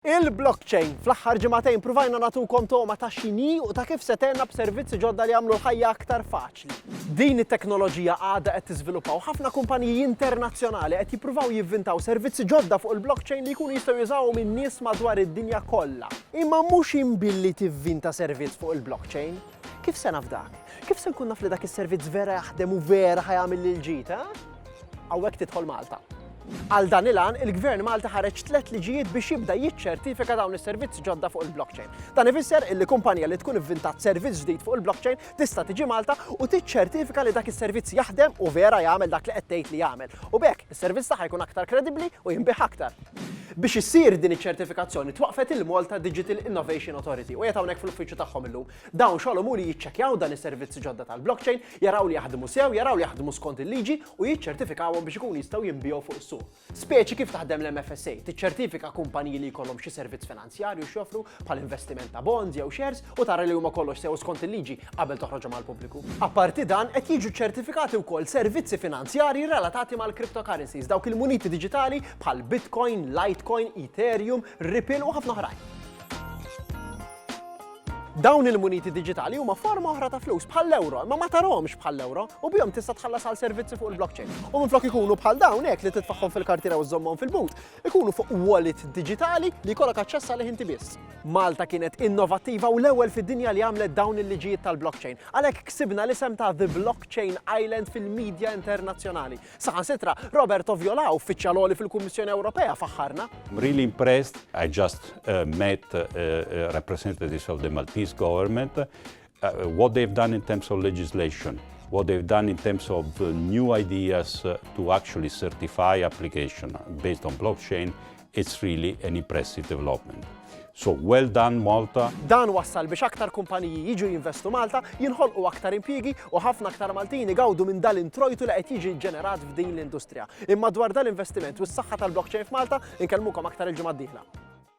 Il-blockchain. Fl-aħħar ġimgħatejn pruvajna nagħtukom togħma ta' x'inhi u ta' kif se tgħinna b'servizzi ġodda li jagħmlu l-ħajja aktar faċli. Din it-teknoloġija għadha qed tiżviluppa u ħafna kumpaniji internazzjonali qed jippruvaw jivvintaw servizzi ġodda fuq il-blockchain li jkunu jistgħu jużawhom in-nies madwar id-dinja kollha. Imma mhux int billi tivvinta servizz fuq il-blockchain. Kif se naf dak? Kif se nkun naf li dak is-servizz vera jaħdem u vera ħajamil lil ġid, ha? Hawnhekk tidħol Malta. Għal dan il-għan, il-Gvern Malti ħareġ tliet liġijiet biex jibda jiċċertifika dawn is-servizzi ġodda fuq il-blockchain. Dan ifisser illi kumpanija li tkun ivvintat servizz ġdid fuq il-blockchain tista' tiġi Malta u tiċċertifika li dak is-servizz jaħdem u vera jagħmel dak li qed tgħid li jagħmel. U b'hekk, is-servizz tagħha jkun aktar kredibbli u jinbih aktar. Biex issir din iċ-ċertifikazzjoni twaqqfet il-Malta Digital Innovation Authority u qiegħed hawnhekk fl-uffiċċju tagħhom illum. Dawn xogħolhom hu li jiċċekkjaw dan is-servizzi ġodda tal-blockchain, jaraw li jaħdmu sew, jaraw li jaħdmu skont il-liġi u jiċċertifikawhom biex ikunu jistgħu jinbiegħu fuq is-suq. Speċi kif taħdem l-MFSA, tiċċertifika kumpaniji li jkollhom xi servizz finanzjarju. finanzjarju x'joffru bħal investiment ta' bonds jew shares u tara li huma kollox sew skont il-liġi qabel toħroġhom għall-pubbliku. Apparti dan, qed jiġu ċċertifikati wkoll servizzi finanzjarji relatati mal-cryptocurrencies, dawk il-muniti diġitali bħal Bitcoin, Litecoin, Ethereum, Ripple u ħafna oħrajn. Dawn il-muniti digitali huma forma oħra ta' flus bħall-euro, imma ma tarhomx bħall-euro u bihom tista' tħallas għal servizzi fuq il-blockchain. U minflok ikunu bħal dawn hekk li titfaħħom fil-kartira u żommhom fil-but, ikunu fuq wallet diġitali li jkollok aċċess għalih inti biss. Malta kienet innovattiva u l-ewwel fid-dinja li għamlet dawn il-liġijiet tal-blockchain. Għalhekk ksibna l-isem ta' The Blockchain Island fil-medja internazzjonali. Saħansitra, Robert Oviola, uffiċjal għoli fil-Kummissjoni Ewropea, faħħarna. I'm really impressed. I just uh, met uh, uh, representatives of the Maltese government. What they've done in terms of legislation, what they've done in terms of new ideas to actually certify application based on blockchain, it's really an impressive development. So well done Malta. Dan wassal biex aktar kumpaniji jiġu jinvestu Malta, jinħolqu aktar impjiegi u ħafna aktar Maltin igawdu minn dal-introjtu li qed jiġi ġenerat f'din l-industrija. Imma dwar dal-investiment u s-saħħa tal-blockchain f'Malta, inkellmukom aktar il-ġimgħa d-dieħla.